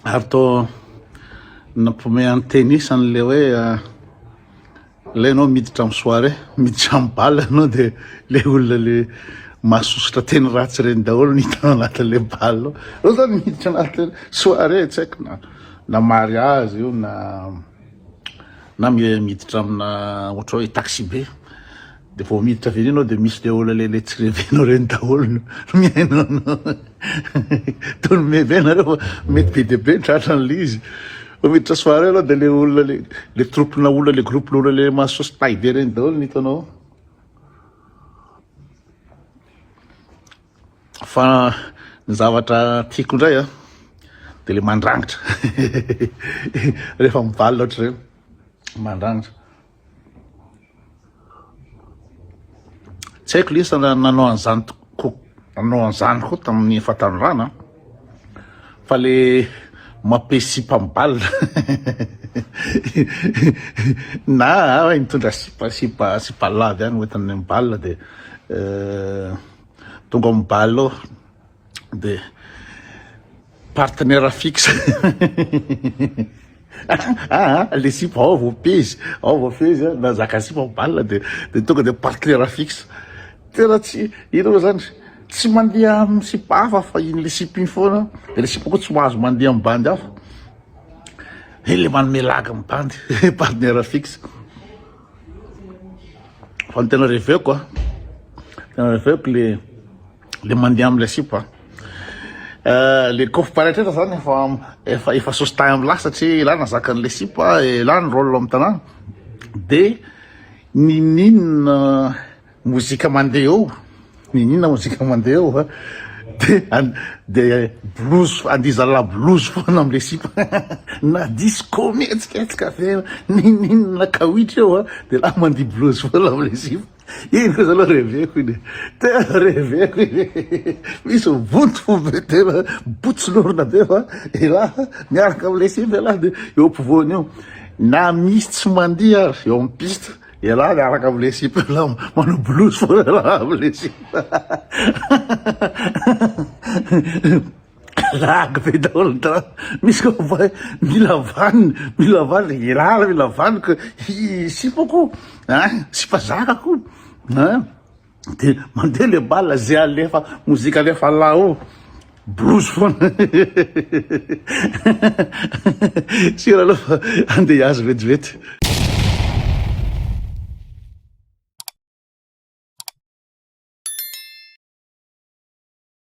ary to nampomean'ny tenisany le hoe ah, Ilay ianao miditra amin'ny soirée, miditra amin'ny bal ianao dia ilay olona le mahasosotra teny ratsy ireny daholo no hitanao anatin'ilay bal ao. Ireo izany miditra anaty soirée, tsy haiko na na mariage io na na miditra amina ohatra hoe taxi be. Dia vao miditra avy eny ianao dia misy le olona le tsy revenao reny daholo no mihaino anao. Toa ny meve nareo fa mety be dia be ny tratra an'le izy. Vao miditra soirée ianao dia le olona le le troupe-na olona le groupe-na olona le mahasaosy tay be reny daholo no hitanao ao. Fa ny zavatra tiako indray a dia le mandrangitra. Rehefa mivalona ohatr'ireny mandrangitra. Tsy haiko lesy raha nanao an'izany tokoa nanao an'izany koa tamin'ny fahatanorana fa le mape sipa mibal na hoe nitondra sipa sipa sipa lava ihany hoentin'ny mibal dia tonga mibal dia partenaire fixe ah, ah, le sipa ao vao pezy ao vao fezy ah, na zaka sipa balina dia dia tonga dia partenaire fixe tena tsy ireo zany tsy mandeha amin'ny sipa hafa fa iny le sipa iny foana dia le sipa koa tsy mahazo mandeha amin'ny bandy hafa e le manome laga amin'ny bandy partenaire fixe fa ny tena reveko a ah. tena reveko le le mandeha amle sipa eh, le kof paretreta zany efa efa efa sositay amla satria ela nazakan'le sipa ela ny rôle amin'ny tanàna de nininona mozika mandeha eo nininona mozika mandeha eo eh. de de blouse andizala blouse foana amle sipa na disco mihetsika etsika ave nininona kawitry eo eh. de la mandia blouse foana amle sipa Iny kosa aloha reveko iny e. Tena reveko iny e. Misy vonto fo be tena botso lorona be fa elah miaraka amin'ilay simba elah dia eo ampovoany eo. Na misy tsy mandihy ary eo amin'ny piste elah miaraka amin'ilay simba elah manao bolozy foana elah amin'ilay simba. Blague be daholo ny drap, misy koa mivoaha hoe mila vaniny, mila vaniny, hialala mila vaniko, sipako an, sipa zakako an, de mandeha le bal ze alefa mozika alefa là ao blues foana sur aloha fa andeha hiazo vetivety.